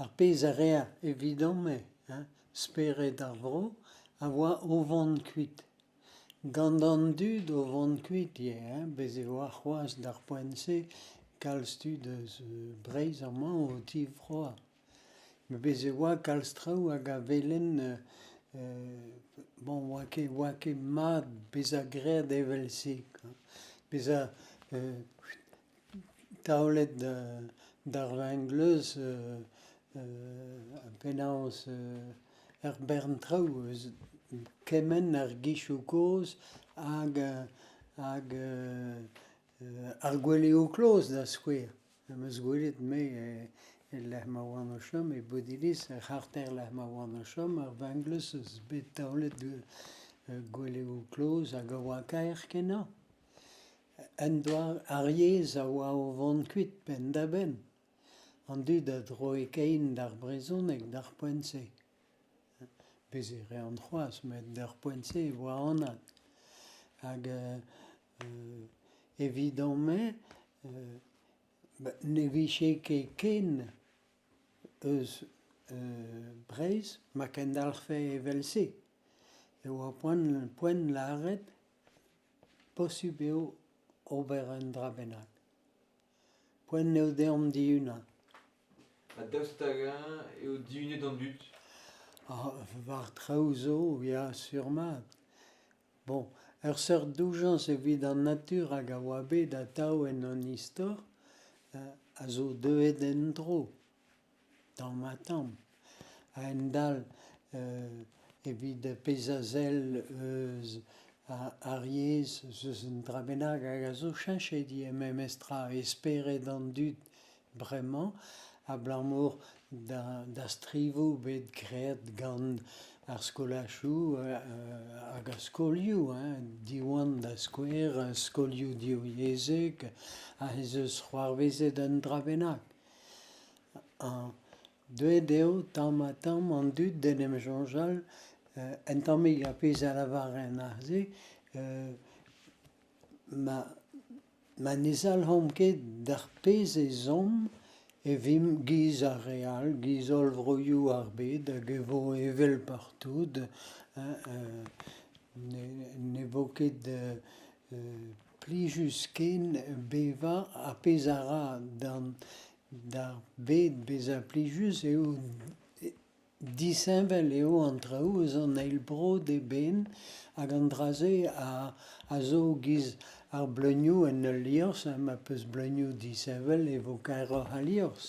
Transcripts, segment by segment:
Ar pezh a reer evidom-me, hein, spered ar vro, a oa o vond kuit. Gand an dud o vond kuit ivez, hein, bez' e oa c'hoaz d'ar poent-se kalz tud euz Breiz amañ o tivroa. Me bez' e oa kalz traou hag a welen bon, oa ket, oa ket mad beza greet evel-se, quoi. Beza taolet d'ar vengleuz penaos er bern traoù eus kement ar gichoù kozh hag hag ar gweleoù kloz da skouer. Am eus gwelet me el lec'h ma oan o chom e Bodiliz, er c'harter lec'h ma oan o chom, ar vengleuz eus bet taolet gweleoù kloz hag a oa kaer kenañ. Un doare ar yezh a oa o vont kuit penn-da-benn. An dud a droe kein d'ar brezhoneg d'ar poent-se. Bez e reont c'hoazh met d'ar poent-se e oa anat. Hag evidon-me ne vije ket ken eus Breizh ma kendalc'hfe evel-se. E oa poent lâret Posubl eo ober un dra bennak. Poent eo deomp dihunañ. Ha daoust hag-eñ eo dihunet an dud? war traoù zo, ya, sur-mat. Bon, ur seurt doujañs evit an natur hag a oa bet atav en hon istor a zo deuet en-dro. tamm ha tamm, a-hend-all evit pezh a sell eus ar yezh eus un dra bennak hag a zo cheñchet ivez memestra, e spered an dud bremañ, abalamour da strivoù bet graet gant ar skolachoù hag ar skolioù, Diwan da skouer, skolioù divyezhek, ez eus c'hoarvezet un dra bennak. Deuet eo tamm-ha-tamm an dud d'en em soñjal un tammig ar pezh a lavaren aze. Ma ma ne zalc'homp ket d'ar pezh ezhomm e vimp 'giz ar re all, 'giz holl vroioù ar bed hag e vo evel partout. Ne vo ket plijus-ken bevañ, ar pezh a ra d'ar bed bezañ plijus eo disheñvel eo an traoù eus an eil bro d'eben hag an dra-se a zo giz ar bleunioù en ul liorzh ha ma peus bleunioù disheñvel e vo kaeroc'h al liorzh.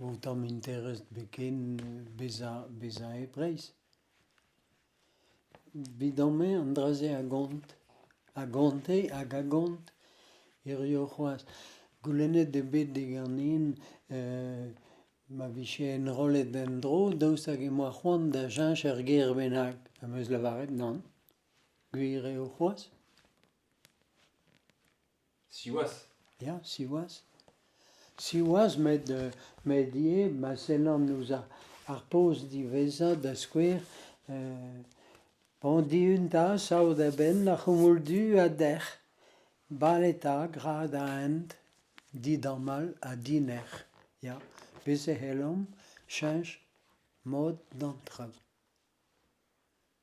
O tamm interest biken bezañ bezañ e Breizh. Evidon-me an dra-se a gont, a gonte hag a gont hiziv c'hoazh. Goulennet eo bet diganin ma vije enrollet en-dro daoust hag emañ c'hoant da cheñch ur gêr bennak, am eus lavaret nann. Gwir eo c'hoazh. Siwazh ! Ya, siwazh. Siwazh met, met ivez ma sellan ouzh ar, ar poz diwezhañ da skouer, Pand-Eeun da sav da benn ar c'houmoul du ha dec'h, bale 'ta gra da hent, didamall ha dinec'h, ya, bez' e c'hellomp cheñch mod d'an traoù.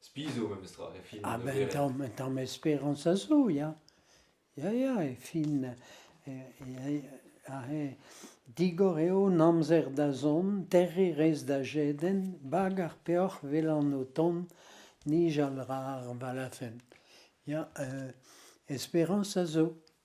Spi zo memestra e fin. Ah ben, tamm, tamm esperans a zo, ya. Ya, ya, e fin, aze, digor eo an amzer da zont, terriñ rez da jedenn, bag ar peoc'h 'welan o tont, nijal ra ar balafenn. Ya, esperans a zo.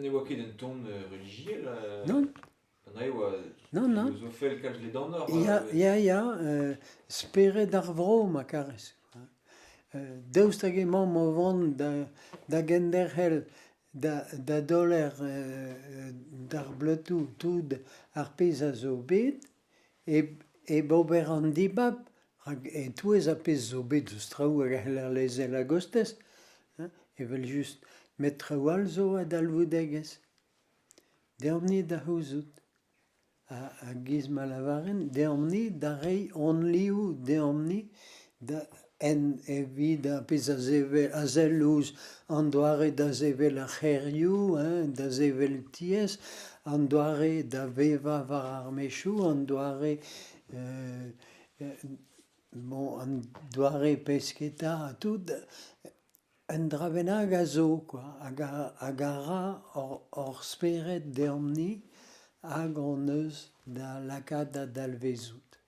Ne oa ket un tamm relijiel anezhe e oa filozofel kalz ledanoc'h. Ya, ya, ya, spered ar vro ma karez. Daoust hag emaomp o vont da genderc'hel da doler d'ar bleutoù tout ar pezh a zo bet Hep ober an dibab, rak e-touez ar pezh zo bet eus traoù a c'heller lezel a-gostez evel-just, met traoù all zo a dalvoudegezh. Deomp-ni da c'houzout. Ha giz ma lavaren, deomp-ni da reiñ hon liv, deomp-ni da... en evit ar pezh a sevel a sell ouzh an doare da sevel ar c'hêrioù, da sevel tiez, an doare da vevañ war ar mezhioù, an doare bon, an doare pesketa ha tout, un dra bennak a zo quoi, hag a, hag a ra hor, hor spered deomp-ni hag hon eus da lakaat da dalvezout.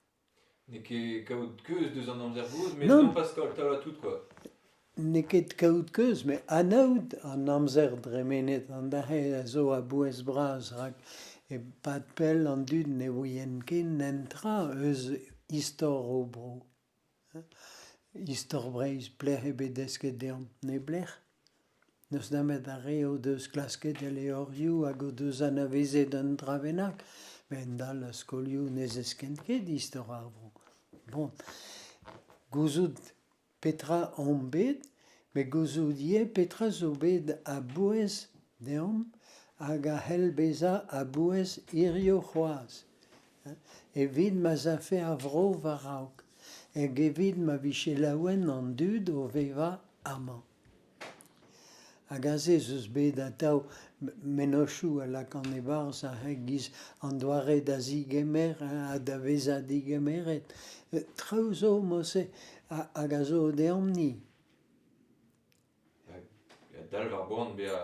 N'eo ket kaout keuz deus an amzer gozh, met nopas taolat tout quoi. N'eo ket kaout keuz, met anaout an amzer dremenet an dac'he a zo a-bouez bras rak e-pad pell an dud ne ouient ket netra eus istor o bro. Istor Breizh, plec'h ebet desket deomp neblec'h. N'eus nemet ar re o deus klasket e levrioù hag o deus anavezet un dra bennak, a-hend-all er skolioù ne zeskent ket istor ar vro. Bon, gouzout petra omp bet met gouzout ivez petra zo bet a-bouez deomp hag a c'hell bezañ a-bouez hiziv c'hoazh, evit ma'z afe ar vro war-raok hag evit ma vije laouen an dud o vevañ amañ. Hag aze ez eus bet atav mennozhioù a lakan e-barzh a-giz an doare da zigemer ha da vezañ digemeret. Traoù zo, Mose, hag a zo deomp-ni.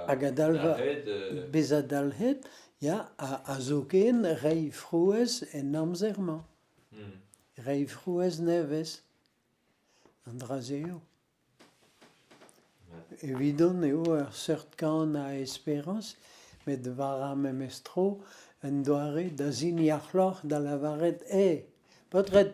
Hag a dalv bezañ dalc'het, ya, ha zoken reiñ frouezh en amzer-mañ. Reiñ frouezh nevez. An dra-se eo. Evidon eo ur seurt kan a esperañs, met war ar memes tro, un doare da ziniac'hloc'h da lavaret eo, paotred,